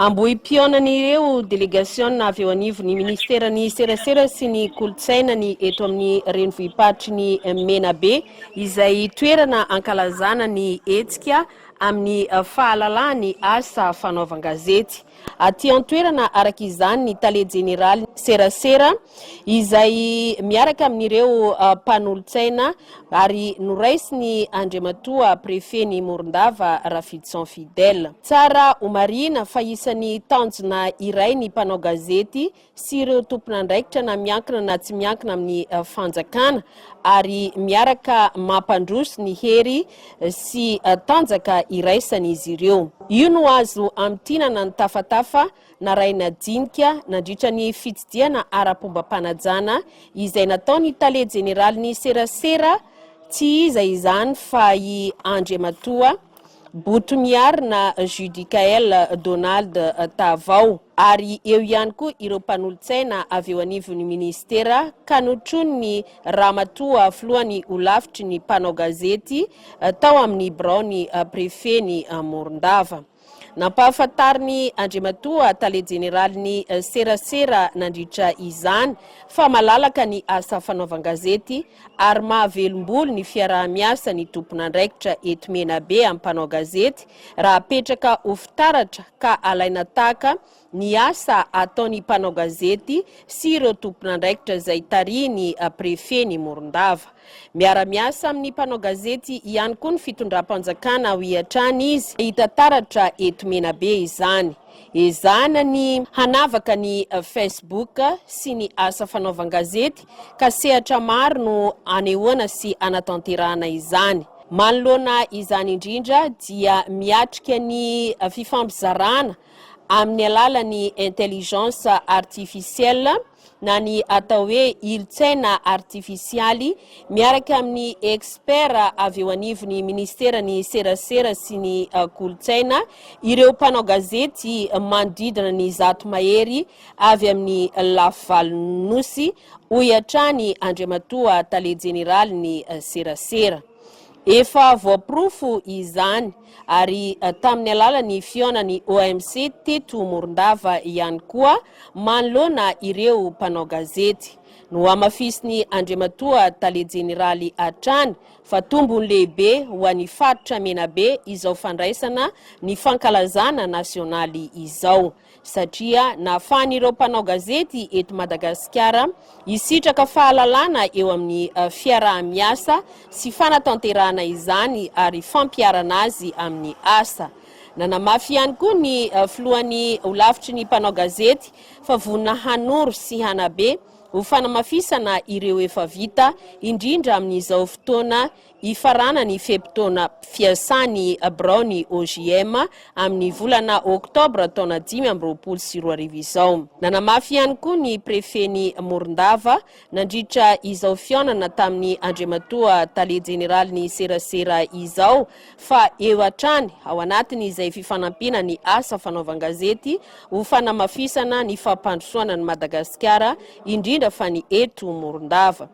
Ambohipihaonan'ireo delegasiona avy eo anivon'ny Ministeran'ny Serasera sy ny Kolontsaina ny eto amin'ny renivohi-paritry ny Menabe, izay toerana ankalazana ny hetsika amin'ny fahalalahana ny asa fanaovan-gazety. Aty an-toerana araka izany ny Tale Jeneralin'ny Serasera, izay miaraka amin'ireo mpanolotsaina ary noraisin'i Andriamatoa Prefen'i Morondava, Rafidison Fidèle. Tsara homarihina fa isan'ny tanjona iray ny mpanao gazety sy ireo tompon'andraikitra na miankina na tsy miankina amin'ny fanjakana ary miaraka mampandroso ny hery sy tanjaka iraisan'izy ireo. Io no azo hamintinana ny tafatafa narahina dinika nandritra ny fitsidihana ara-pombam-panajana izay nataon'ny tale jeneralin'ny serasera tsy iza izany fa i Andriamatoa Botomiarina Judicaël Donald Tavao ary eo ihany koa ireo mpanolotsaina avy eo anivon'ny minisitera ka notronin'ny Ramatoa filohan'ny holafitry ny mpanao gazety tao amin'ny biraon'ny prefen'i Morondava. Nampahafantarin'i Andriamatoa Tale Jeneralin'ny serasera nandritra izany fa malalaka ny asa fanaovan-gazety ary mahavelom-bolo ny fiaraha-miasa ny tompon'andraikitra eto Menabe amin'ny mpanao gazety raha apetraka ho fitaratra ka alaina tahaka ny asa ataon'ny mpanao gazety sy ireo tompon'andraikitra izay tarihin'ny prefen'i Morondava. Miara-miasa amin'ny mpanao gazety ihany koa ny fitondram-panjakana, hoy hatrany izy. Hita taratra eto Menabe izany. Ezahina ny hanavaka ny Facebook sy ny asa fanaovan-gazety ka sehatra maro no anehoana sy anatanterahana izany. Manoloana izany indrindra dia miatrika ny fifampizarana amin'ny alalan'ny intelligence artificielle na ny atao hoe ilotsaina artifisialy miaraka amin'ny experts avy eo anivon'ny Ministeran'ny Serasera sy ny Kolontsaina ireo mpanao gazety manodidina ny zato mahery avy amin'ny lafy valon'ny Nosy, hoy hatrany Andriamatoa Tale Jeneralin'ny Serasera. Efa voaporofo izany. ary tamin'ny alalan'ny fihaonan'ny OMC teto Morondava ihany koa manoloana ireo mpanao gazety. Nohamafisin'i Andriamatoa Tale Jeneraly hatrany fa tombony lehibe ho an'ny faritra Menabe izao fandraisana ny fankalazana nasionaly izao. satria nahafahan'ireo mpanao gazety eto Madagasikara hisitraka fahalalana eo amin'ny fiaraha-miasa sy fanatanterahana izany ary fampiharana azy amin'ny asa. Nanamafy ihany koa ny filohan'ny Holafitry ny mpanao gazety fa vonona hanoro sy hanabe ho fanamafisana ireo efa vita, indrindra amin'izao fotoana Hifarana ny fe-potoana fiasan'ny biraon'ny OJM amin'ny volana oktobra taona dimy amby roapolo sy roa arivo izao. Nanamafy ihany koa ny prefen'i Morondava, nandritra izao fihaonana tamin'ny Andriamatoa Tale Jeneralin'ny serasera izao, fa eo hatrany ao anatin'izay fifanampiana ny asa fanaovan-gazety ho fanamafisana ny fampandrosoana an'i Madagasikara, indrindra fa ny eto Morondava.